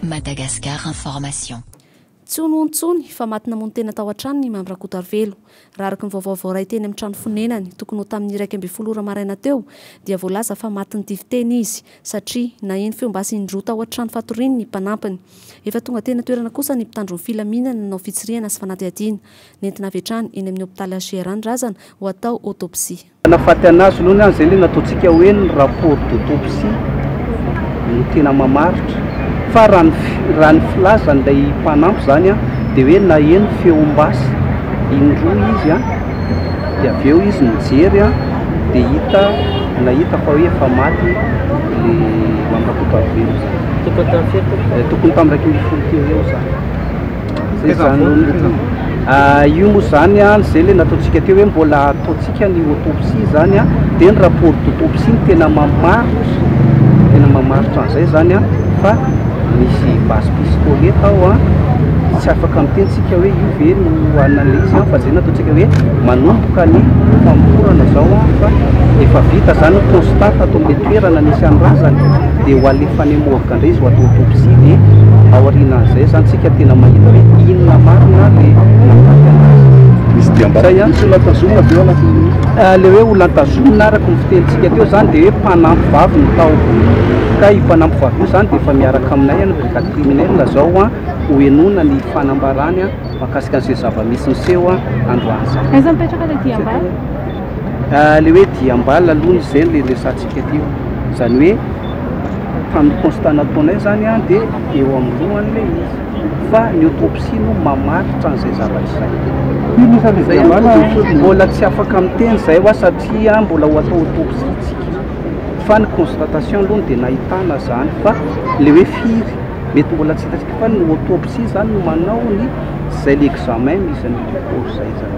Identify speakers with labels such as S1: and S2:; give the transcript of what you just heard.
S1: Madagascar Information. Tsy
S2: hono hono intsony fa maty namono tena tao an-tranony i Mamy Rakotoarivelo. Raha araka ny vaovao voaray teny amin'ny trano fonenany, tokony ho tamin'ny iraika ambin'ny folo ora maraina teo, dia voalaza fa matin'ny tifiteny izy, satria naheno feo basy indroa tao an-trano fatoriany ny mpanampiny. Efa tonga teny an-toerana kosa ny mpitandro ny filaminana nanao fitsirihana sy fanadihadiana. Nentina avy hatrany eny amin'ny hopitaly HJR ny razana ho atao autopsie. Manafaty anazy
S3: aloha ny ahy izay ilay nataontsika hoe ny rapport d'autopsie no tena mamaritra fa raha ny raha ny filazan'ilay mpanampy izany a dia hoe naheno feom-basy indroa izy a dia avy eo izy nijery a dia hita nahita fa hoe efa maty ilay Mandrakoto Ravelona izany tokony tamin'ny iraika ambin'ny folo teo eo izany Zay zany ohatra. Ah, io moa zany an, izay le nataontsika teo hoe mbola ataontsika ny autopsie zany an, dia ny rapport d'autopsie no tena mamaritra, tena mamaritra an'izay zany an, fa misy base piscole tao an, tsy afaka miteny tsika hoe io ve no analyse an, fa zay nataontsika hoe manomboka ny famorana zao an, fa efa vita zany ny constat tato amle toerana nisy an'ny razana, dia ho alefany am. Tandrizo ato autopsie dia ao aorianan'izay izany tsika tena mahita hoe inona marina le nahafaty anazy.
S4: Misy diam-bato. Zay ihany tsy olantazomina avy eo anatin'ny nosy. Le hoe olantazomina
S3: araka ny fitenintsika teo izany dia hoe mpanampy vavy no tao. Ka io mpanampy vavy io izany dia efa miaraka aminay any brigade criminelle izao ho henoina ny fanambarany mahakasika an'izay zava-misy niseho androany izany. Aiza mipetraka le
S2: diam-bala?
S3: Le hoe diam-bala aloha no izay le resahantsika teo. Izany hoe. tamin'ny constat nataonay zany an dia eo amin'ny lohany ilay izy fa ny autopsie no mamaritra an'izay zavatra izay. Firy isan'ny Izay an, fikambanana no tojo- mbola tsy afaka miteny izay hoa satria an mbola ho atao autopsie isika fa ny constatation aloha no dia nahitana izany fa ilay hoe firy mety mbola tsy hitantsika fa ny autopsie izany no manao ny izay ilay examen misy an'io corps izay izany.